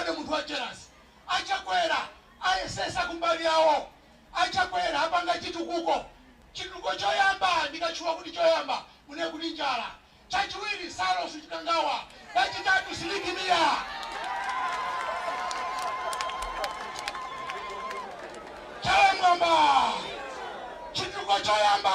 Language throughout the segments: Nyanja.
Ndi munthu wa jealous. A Chakwera ayesesa kumbali yawo. A Chakwera apanga chitukuko. Chitukuko choyamba ndikatchula kuti choyamba munene kuti njala. Chachiwiri Saulos Chikangawa. Chachitatu Sidik Mia. Chala mwamba. Chitukuko choyamba.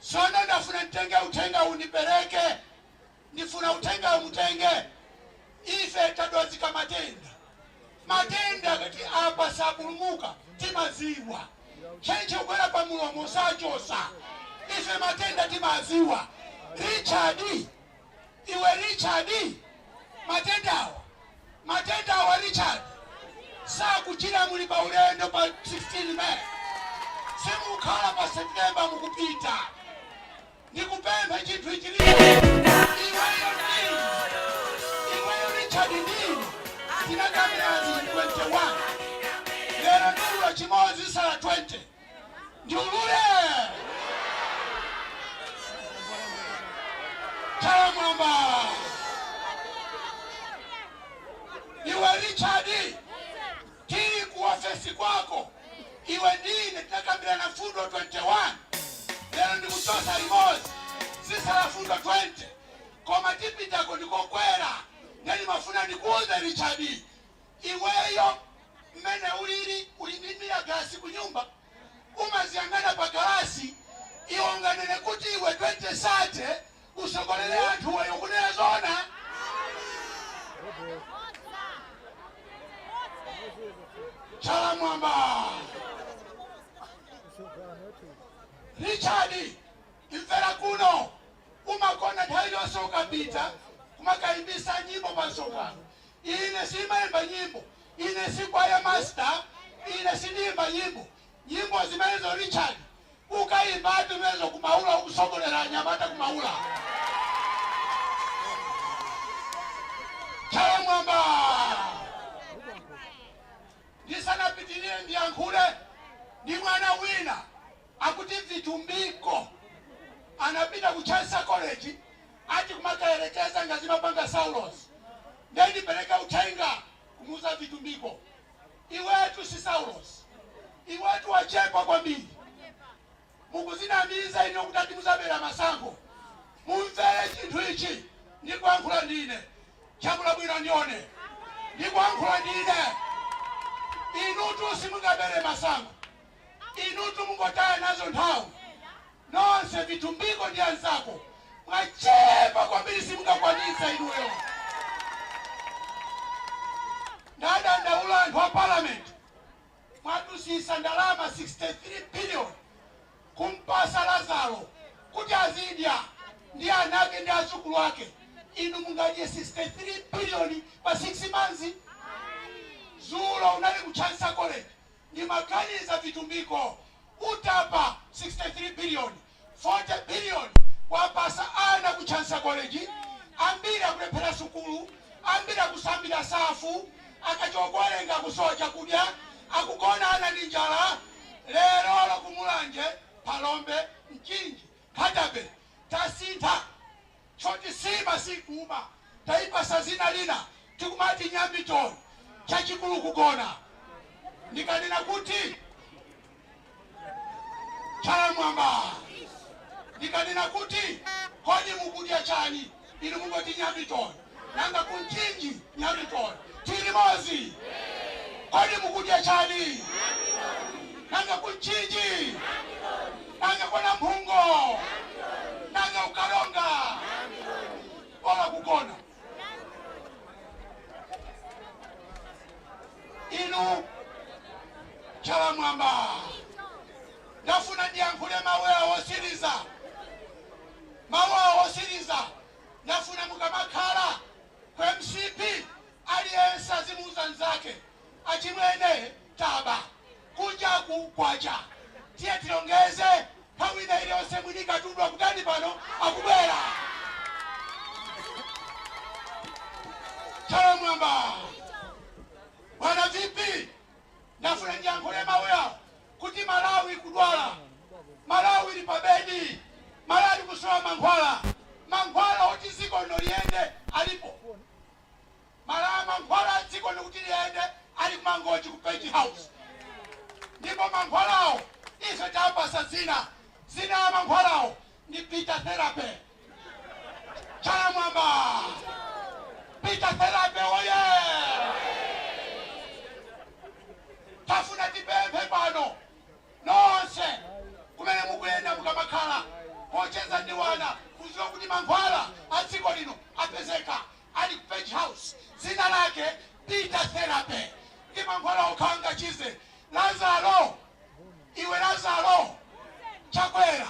Tsono ndafuna nditenge uthenga uwu ndipereke. Ndifuna uthengawu mutenge. Ife tadwazika matenda. Matenda akati apa sapulumuka timadziwa. Ntchentche kugwera pa mulomo sachotsa. Ife matenda timadziwa. Richard. iwe richard matendawa matendawa richard sakuchira muli pa ulendo pa 16 may simukhala pa septemba mukupita ndikupempha chinthu ichi iweyo ndine iweyo richard ndine tinakambirana zinthu 21 lero ndiulula chimodzi sala 20 Ndiulule! Chalamwamba! Iwe Richard, tili ku ofesi kwako, iwe ndine tinakambirana fundo 21 lero ndikuchosa limodzi zisala fundo 20 koma tipitako ndikokwera nde ndimafuna ndikuuze Richard Iweyo mmene ulili uli ndi mirror galasi kunyumba umaziyang'ana pa galasi iwe unganene kuti iwe 2030 usogolele anthu iweyo ukunena zoona? Chala mwamba Richard imvera kuno umakonda nthawi yonse ukapita kumakayimbisa nyimbo pa msonkhano Ine simaimba nyimbo. Ine si choir master. Ine sindiimba nyimbo. Nyimbo zimenezo, Richard, ukaimbatu zimenezo ku Maula, ukusogolera anyamata ku Maula. Chalamwamba! Ndisanapitirire ndiyankhule ndi mwana wina. Akuti Vitumbiko anapita ku Chancellor College ati kumakayerekeza ngati zimapanga Saulos. Nde ndipereke uthenga kumuuza Vitumbiko, iwetu si Saulos, iwetu wachepa kwambiri. Mukuzinamiza inu kuti ati muzabera masankho. Mumvere chinthu ichi ndikuyankhula ndine. Chakula bwino ndione. Ndikuyankhula ndine. Inutu simungabere masankho. Inutu mungotaya nazo nthawi nonse vitumbiko ndi anzako mwachepa kwambiri simungakwanitse inuyo. Ndadandaula anthu a Parliament mwadusisa ndalama 63 billion kumpasa Lazaro kuti azidya ndi anake ndi azukulu ake inu mungadye 63 billion pa 6 months? Zulo unali ku Chansa College Ndimaganiza vitumbiko utatapa 63 billion 40 billion kuwapasa ana ku Chansa College ambiri akulephera sukulu ambiri akusambira Safu akachoka kuwerenga akusowa chakudya akugona ana ndi njala lerolo ku mulanje phalombe mchinji Kadabe tasintha choti nsima sikuuma taipasa dzina lina tikumati Nyamiton chachikulu kugona ndikanena kuti chala m'mwamba ndikanena kuti kodi mukudya chani? Inu mungoti Nyamiton, nanga ku Mchinji Nyamiton. Tili limodzi? Kodi mukudya chani? Nanga ku Mchinji? Nanga kwa Namphungo? Nanga ku Karonga? Bola kugona. Inu chala m'mwamba. Ndafuna ndiyankhule mawu awa otsiriza. Mawu awa otsiriza ndafuna mukamakhala Ku mcp aliyense azimuuza mnzake achimwene taba kunjaku kwacha tiye tilongeze nthawi ina iliyonse mwini katundu akutani pano akubwera chala m'mwamba bwana vp ndafuna ndiyankhule mawu awa kuti Malawi ikudwala, malawi ili pa bedi, malawi ikusowa mankhwala, mankhwala oti ziko lino liyende alipo, malawi mankhwala a dziko lino kuti liyende ali ku mangochi ku Page House ndipo mankhwalawo ife tapasa dzina dzina la mankhwalawo ndi Peter Therapy Chala m'mwamba! Peter Therapy oye! Tafuna tipemphe pano nonse kumene mukuyenda mukamakhala pocheza ndi ana kudziwa kuti mankhwala a dziko lino apezeka ali ku Page House dzina lake Peter Therapy ndi mankhwala okha angachize lazaro iwe lazaro chakwera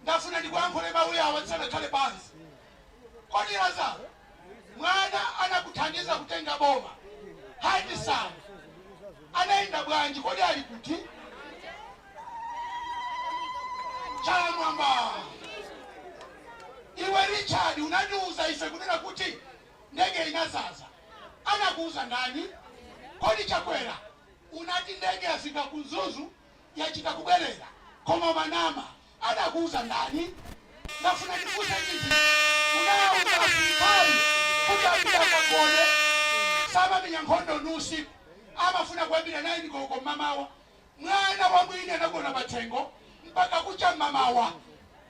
Ndafuna ndikuyankhule mau yawa ndisanakhale pansi. Kodi Lazaro mwana anakuthandiza kutenga boma Hadi Sana anaenda bwanji kodi ali kuti? Chala mwamba iwe Richard unatiuza ife kunena kuti ndege inazaza anakuuza ndani? Kodi Chakwera unati ndege yafika ku Mzuzu yachita kubwerera koma umanama adakuuza ndani? Ndafuna ndifunse chinthu ichi unauza asilikali kuti apite akagone samenya nkhondo ndi usiku adzafuna kuyambira 9 koloko mmamawa mwana wa mwini anagona pathengo mpaka kucha mmamawa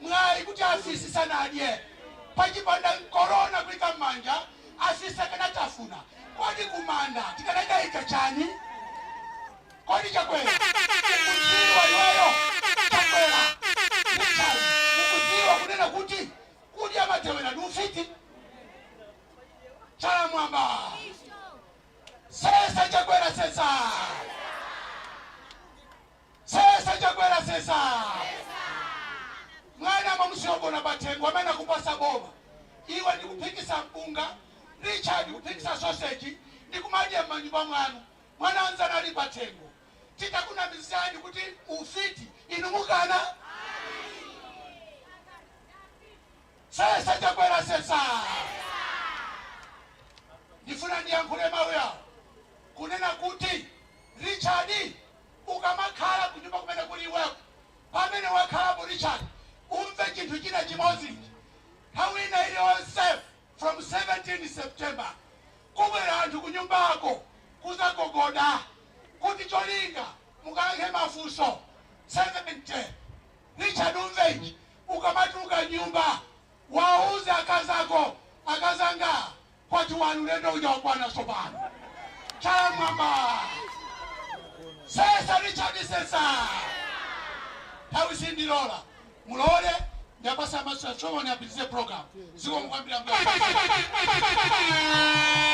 mwayi kuti afisi sanadye pachipanda corona kuika mmanja afisi akanatafuna kodi kumanda tikanakaika chani kodi chakwera mukudziwa iweyo chakwera Richard mukudziwa kunena kuti kudya matewera ndi ufiti chala mwamba sesa chakwera sesa Sesa chakwera sesaa! Mwana mwamusiya ogona pathengo amene akupasa boma iwe ndikuphikisa mpunga Richard kuphikisa soseji ndikumadya mmanyumba mwanu mwana wanzanu ali pathengo titakunamizani kuti ufiti inu mukana Sesa chakwera sesaa! Ndifuna ndiyankhule mawu yawo kunena kuti Richard Ukamakhala kunyumba kumene kuli iweko, pamene wakhalapo Richard, umve chinthu china chimodzi ichi, nthawi ina iliyonse from 17 September kubwera anthu kunyumbako kuzagogoda kuti cholinga mukayankhe mafunso 70. Richard umve ichi, ukamatuluka nyumba. Wauze akazi ako, Akazi anga, kwati wanu ulendo uja wakwana tsopano. Chala m'mwamba! Sesa Richard sesa! Nthawi sindilola. Mulole ndipatse master ceremony apitize program. Zikomo kwambiri ambuye.